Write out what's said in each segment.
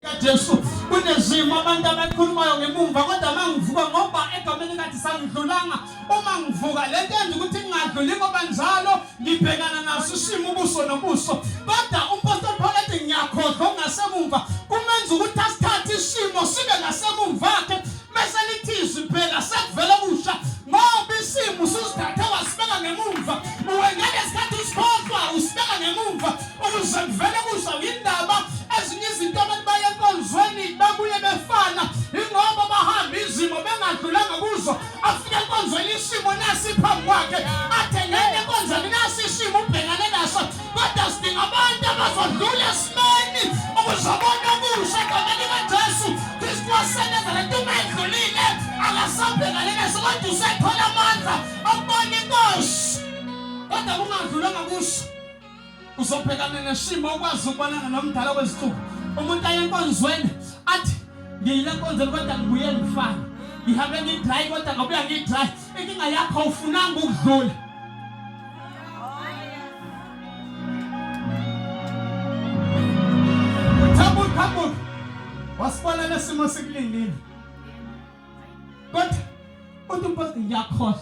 kaJesu kunezimo abantu abakhulumayo ngemumva kodwa mangivuka ngoba egameni kathi sangidlulanga uma ngivuka le nto yenza ukuthi ngingadluli ngoba njalo ngibhekana naso isimo ubuso nobuso kodwa umpostoli Paul ethi ngiyakhohlwa ongasemumva kumenza ukuthi asithathe isimo sibe ngasemumva khe bese lithi izwi phela sekuvela okusha ngoba isimo usuzithathe wasibeka ngemumva uwengeke sikhathi usikhohlwa usibeka ngemumva Ukuze kuvele kuzale indaba ezinye izinto abantu baye enkonzweni babuye befana ingoba bahamba izimo bengadlulanga kuzo afike enkonzweni isimo nasi phambi kwakhe athe ngeke enkonzweni nasi isimo ubhekane naso kodwa sidinga abantu abazodlula esimeni ukuzobona okusha egameni kajesu kristu wasebenza le nto uma edlulile akasabhekane naso kodwa usethola amandla okubona inkosi kodwa kungadlulanga kuso uzobhekana nesimo okwazi ukubonana nomdala wezihluku umuntu aye enkonzweni athi ngiyile nkonzweni kodwa ngibuye ngifane ngihambe ngidry kodwa ngabuya ngidry inkinga yakho ufunanga ukudlula Hamburg wasibona lesimo sikulindile kodwa uthi mposi ngiyakhohlwa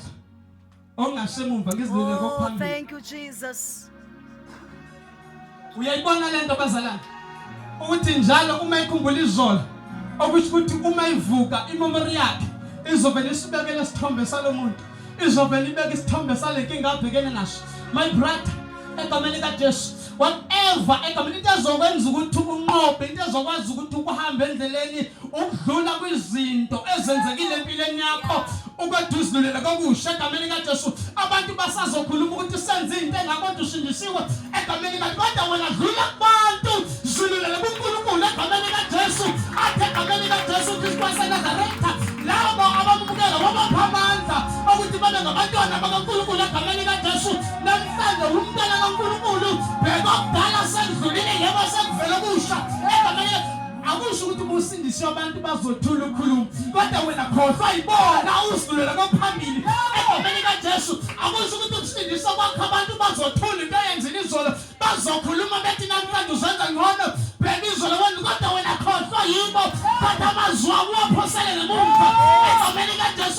ongasemumva ngizilele oh, kokuphambili thank you jesus uyayibona lento bazalana ukuthi njalo uma ikhumbula izolo okusho ukuthi uma ivuka imemori yakhe izovele isibekele isithombe salomuntu izovele ibeke isithombe salenkinga abhekene naso my brother egameni kaJesu whatever egameni into ezokwenza ukuthi unqobe into ezokwazi ukuthi ukuhambe endleleni ukudlula kwizinto ezenzekile empilweni yakho ukwethu uzilulela kokusha egameni kaJesu abantu basazokhuluma ukuthi senze into engakonto ushindisiwe egameni kaJesu kodwa wena dlula kubantu zilulela kuNkulunkulu egameni kaJesu athe egameni kaJesu Kristu waseNazaretha labo abamukela wabapha amandla ukuthi babe ngabantwana bakaNkulunkulu egameni kaJesu Manje umntana kaNkulunkulu bheka okudala sekudlulile yebo sekuvela okusha egameni akusho ukuthi ubusindiswe abantu bazothula ukukhuluma kodwa wena khohlwa yibona usidlulela kophambili egameni kaJesu akusho ukuthi ukusindiswa kwakho abantu bazothula into eyenzile izolo bazokhuluma bethi namhlanje uzenza ngcono bheka izolo wena kodwa wena khohlwa yibo thatha amazwi akho uwaphoselele kumva egameni kaJesu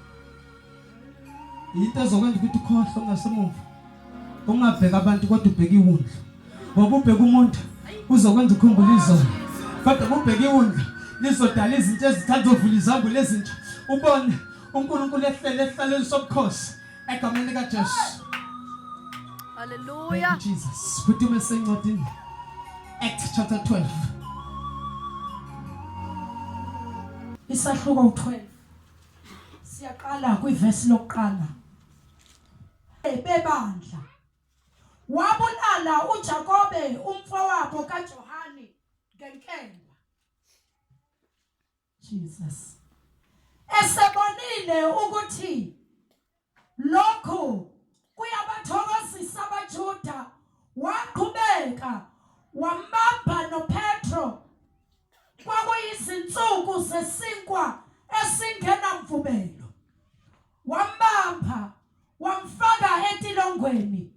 yinto ezokwenza ukuthi ukhohle ungasemuva ungabheka abantu kodwa ubheke iwundlu ngoba ubheka umuntu uzokwenza ukhumbula izolo kodwa ubheke iwundlu lizodala izinto ezithanda uvula izambulo ezintsha ubone uNkulunkulu ehlele ehlalweni sobukhosi egameni lika Jesu Hallelujah Jesus futhi uma sencwadini Act chapter 12 Isahluko 12 siyaqala kwivesi lokuqala bebandla wabulala uJakobe umfowabo kaJohane ngenkemba Jesus esebonile ukuthi Lokhu kuyabathokozisa abaJuda, waqhubeka wambamba noPetro. Kwakuyizinsuku zesinkwa esingenamvubelo. Wambamba, wamfaka etilongweni,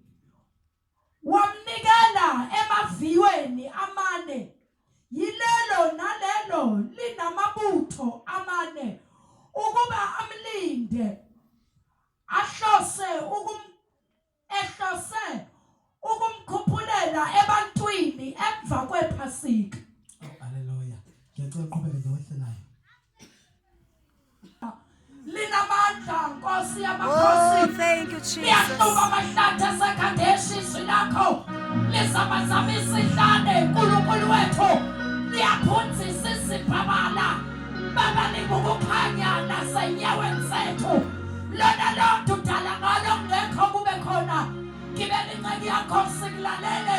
Wamnikela emaviyweni amane, yilelo nalelo linamabutho amane, ukuba amlinde, ahlose ukum, ehlose ukumkhuphulela ebantwini emva kwePhasika. Haleluya. Ngiyacela uqhubeke nje wehle nayo. linamandla nkosi yamakhosi oh, thank you jesus liyaqhuba amahlathi asekhadeshi izwi lakho lizamazama isihlane nkulunkulu wethu liyaphunzisa izibhabala baba lingukukhanya nasenyaweni zethu lona lonto udala ngalo ngekho kube khona ngibele inceki yakho sikulalele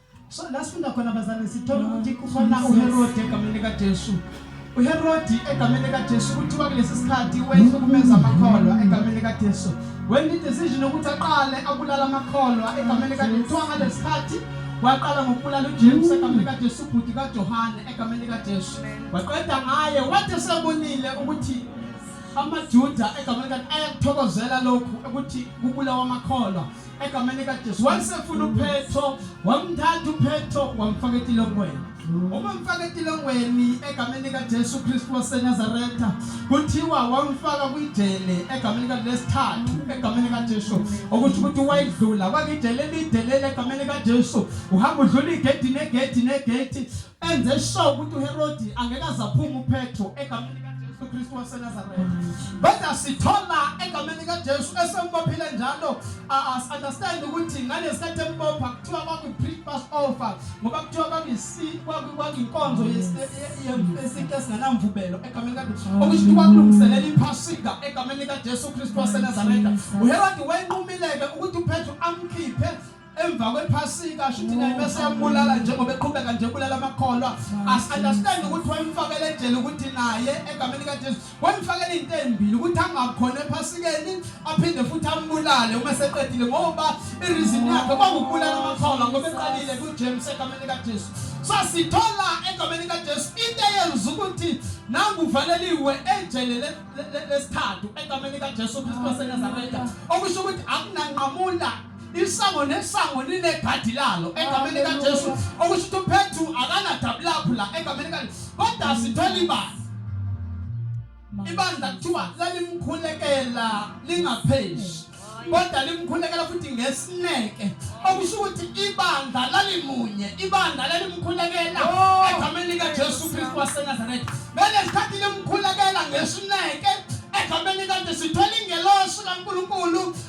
So la sifunda khona bazalwane sithola ukuthi kufana uHerode egameni likaJesu. uHerodi egameni likaJesu kuthiwa kulesi sikhathi wenza ukumenza amakholwa egameni likaJesu wenza idecision ukuthi aqale abulala amakholwa egameni likaJesu kuthiwa ngalesi sikhathi waqala ngokubulala uJesu egameni likaJesu ubhuti kaJohane egameni likaJesu waqeda ngaye wathi sebonile ukuthi amaJuda egameni likaJesu ayakuthokozela lokhu ukuthi kubulawa amakholwa egameni likajesu wayesefuna uphetho wamthatha uphetho wamfaka etilongweni uma mfaka etilongweni egameni likajesu kristu wasenazaretha kuthiwa wamfaka kwijele egameni kalesithathu egameni likajesu okusho ukuthi wayedlula kwakijele elide leli egameni likajesu uhamba udlula igedi negedi negedi enze sure ukuthi uHerodi angeke azaphuma uPetro egameni likaJesu Kristu waseNazaretha kodwa sithola egameni likaJesu esembophile njalo as understand ukuthi ngalesikhathi embopha kuthiwa kwaku pre-pass over ngoba kuthiwa kwakuyisi kwakuyinkonzo yesintu esinganamvubelo egameni likaJesu okusho ukuthi kwakulungiselela iphasika egameni likaJesu Kristu waseNazaretha uHerodi wenqumileke ukuthi uPetro amkhiphe emva kwephasika shuthi naye bese yambulala njengoba eqhubeka nje bulala amakholwa asunderstand ukuthi wayemfakela ejele ukuthi naye egameni kaJesu wayemfakela into ezimbili ukuthi angakhona ephasikeni aphinde futhi ambulale uma seqedile ngoba ireason yakhe kwakubulala amakholwa ngoba eqalile kuJames egameni kaJesu sasithola egameni kaJesu into eyenza ukuthi nanguvaleliwe ejele lesithathu egameni kaJesu Kristu waseNazaretha okusho ukuthi akunanqamula isango nesango linegadi lalo egameni likajesu okusho ukuthi uphethu akanadabi lapho la egameni lika kodwa sithole ibandla ibandla kuthiwa lalimkhulekela lingaphezi kodwa limkhulekela futhi ngesineke okusho ukuthi ibandla lalimunye ibandla lalimkhulekela oh, egameni likajesu kristu wasenazaretha ngale sikhathi limkhulekela ngesineke egameni kade sithole ingelosi kankulunkulu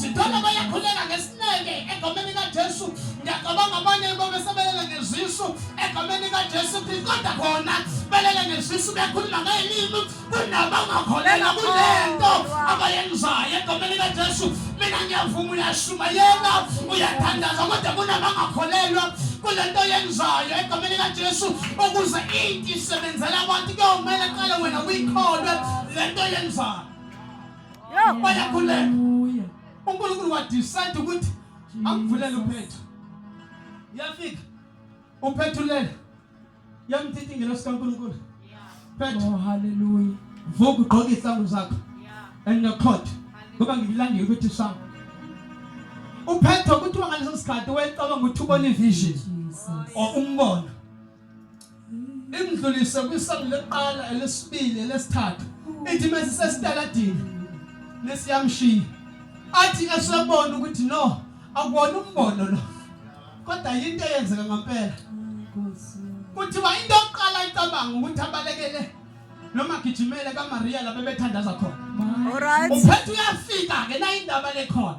Sithole bayakhuleka ngesineke egameni kaJesu. Ngiyacabanga abanye babo sebelele ngezisu egameni kaJesu Kristu kodwa khona belele ngezisu bekhuluma ngelimi kunabangakholelwa kule nto abayenzayo egameni kaJesu. Mina ngiyavuma uyashumayela uyathandaza kodwa kunabangakholelwa kule nto yenzayo egameni kaJesu ukuze inti isebenzela abantu kuyomele qale wena uyikholwe le nto yenzayo. bayakhuleka unkulunkulu wadecide ukuthi akuvulele uphethu yafika uphethulele yamthithi ngelosi kankulunkulu phethu oh, haleluya vuka ugqoke izihlangu zakho and nokhotha ngoba ngikulandile ukuthi sami uphetho kuthiwa ngaleso sikhathi wayecabanga ukuthi ubona ivision or umbono imdlulise kwisango lokuqala elesibili elesithathu ithi mase sesitaladini lesiyamshiya athi esebona ukuthi no akwona umbono lo kodwa yinto eyenzeka ngempela kuthiwa into yokuqala icabanga ukuthi abalekele noma gijimele kaMaria lapho bethandaza khona. Alright. Uphethe uyafika ke la indaba lekhona.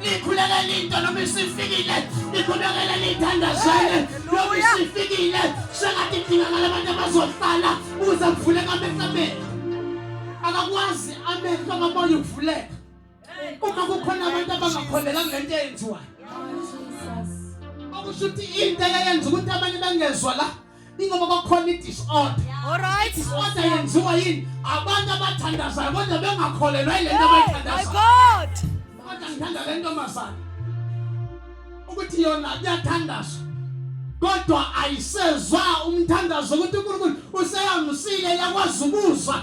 Nikhulekela into noma isifikile, nikhulekela nithandazane noma isifikile. Sengathi kudingakala abantu abazohlala ukuze kuvuleke amehlo amehlo. Akakwazi amehlo amabona ukuvuleka. Uma kukhona abantu abangakholelanga ngento eyenziwayo. Okusho ukuthi into eyenza ukuthi abanye bangezwa la ingoba bakhona i-disorder Alright. i-disorder yenziwa yini abantu abathandazayo kodwa bengakholelwa yile nto Hey, my abayithandazayo God. kodwa ngithanda le ntombazane ukuthi yona kuyathandazwa kodwa ayisezwa umthandazo ukuthi unkulunkulu useyangusile yakwazi ukuzwa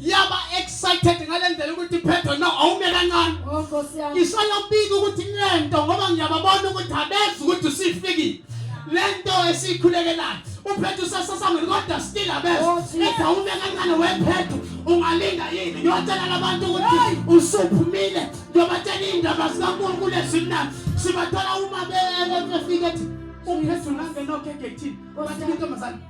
yaba excited ngale ndlela ukuthi Pedro no awume kancane oh, isayobika ukuthi lento ngoba ngiyababona ukuthi abezi ukuthi usifikile lento esikhulekelayo uphethu sasasangweni kodwa still abezi oh, ethi awume kancane wephethu ungalinda yini ngiyotshela labantu ukuthi usuphumile ngiyobatshela iy'ndaba zikankulunkulu ezimnandi sibathola uma befike ethi uphethu nangenokhekethini bathi intombazane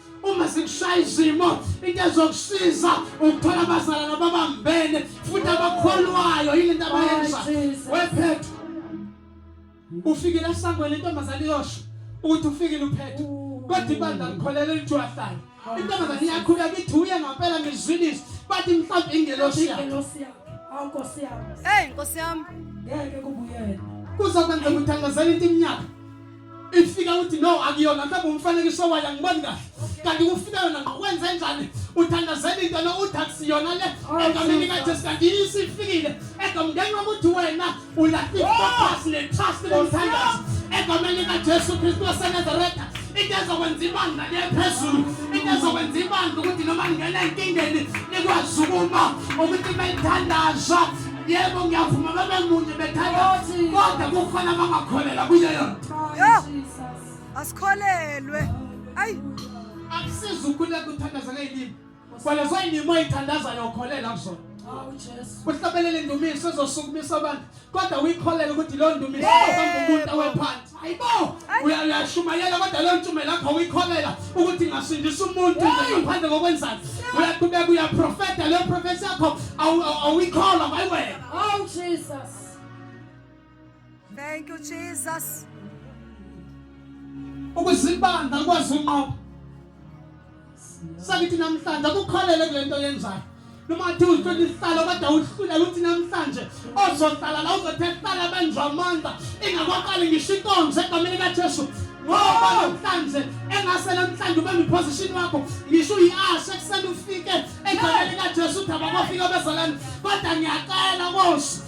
uma sikushaya izimo into ezokusiza ukuthola abazalana babambene futhi abakholwayo yile nto abayenza wephethu ufikile esangweni intombazane iyosho ukuthi ufikile uphethu kodwa ibandla likholele litshwahlayo intombazane iyakhuleka ithi uye ngampela ngizwilise bathi mhlawumbe ingelosi yakhe Awu Nkosi yami. Hey Nkosi yami. Ngeke kubuyele. Kuzokwenzeka uthandazela into iminyaka. ifika uthi no akuyona mhlawumbe umfanekiso wayo angiboni kahle kanti kufika yona ngokwenza enjani uthandazela into no uthi akusiyona le egameni kajesu kanti yiso ifikile egamngeni wokuthi wena ulatiphasi netrust lomthandazo egameni kajesu kristu wasenazaretha into ezokwenza ibandla liye phezulu into ezokwenza ibandla ukuthi noma ngingena enkingeni likwazi ukuma ukuthi belithandaza Yebo ngiyavuma baba munye bethatha kodwa kufana bangakholela kuyo yona. Asikholelwe. Ayi akusiza ukukhuleka uthandaza ngeyilimi. Kwala soyinimo ithandaza yokholela kuzona. Uhlabelele indumiso ezosukumisa abantu kodwa uyikholela ukuthi lo ndumiso uzohamba umuntu awephansi. hayibo uyashumayela kodwa leyo ntshumayelo yakho uyikholela ukuthi ngasindisa umuntu nje ngaphandle kokwenzani uyaqhubeka uyaprofeta leyo profesi yakho awuyikholwa hayi wena oh jesus thank you jesus ukuzibanda ukwazi unqoba sakithi namhlanje akukholele kule nto yenzayo noma athi uzitho lihlala kodwa uhlulela uthi namhlanje ozohlala la uzothe hlala benjwa amandla ingakwaqali ngisho inkonzo egameni kajesu ngoba namhlanje engase namhlanje ube ngiphosishini wakho ngisho uyi-ashe ekuseni ufike egameni kajesu uthi abakofika bezalani kodwa ngiyacela kosi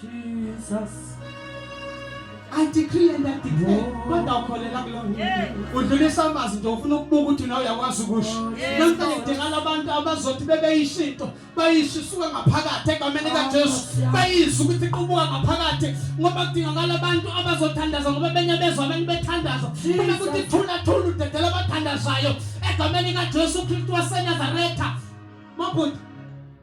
Jesus. I decree and I declare. Kodwa ukholela kulo. Udlulisa amazi nje ufuna ukubuka ukuthi nawe uyakwazi ukusho. Namhla ngidingala abantu abazothi bebeyisho into, bayisho isuka ngaphakathi egameni oh, kaJesu. Bayizwa ukuthi iqubuka ngaphakathi ngoba kudingakala abantu abazothandaza ngoba benye bezwa abantu bethandaza. Uma kuthi thula thula udedela abathandazayo egameni kaJesu Kristu waseNazaretha. Mabhuti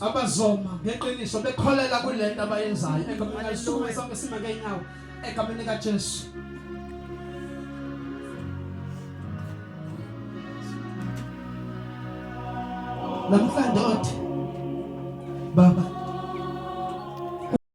abazoma ngeqiniso bekholela kule nto abayenzayo egameni lisukume sonke sime ngeenyawo egameni likajesu namhlanje othi baba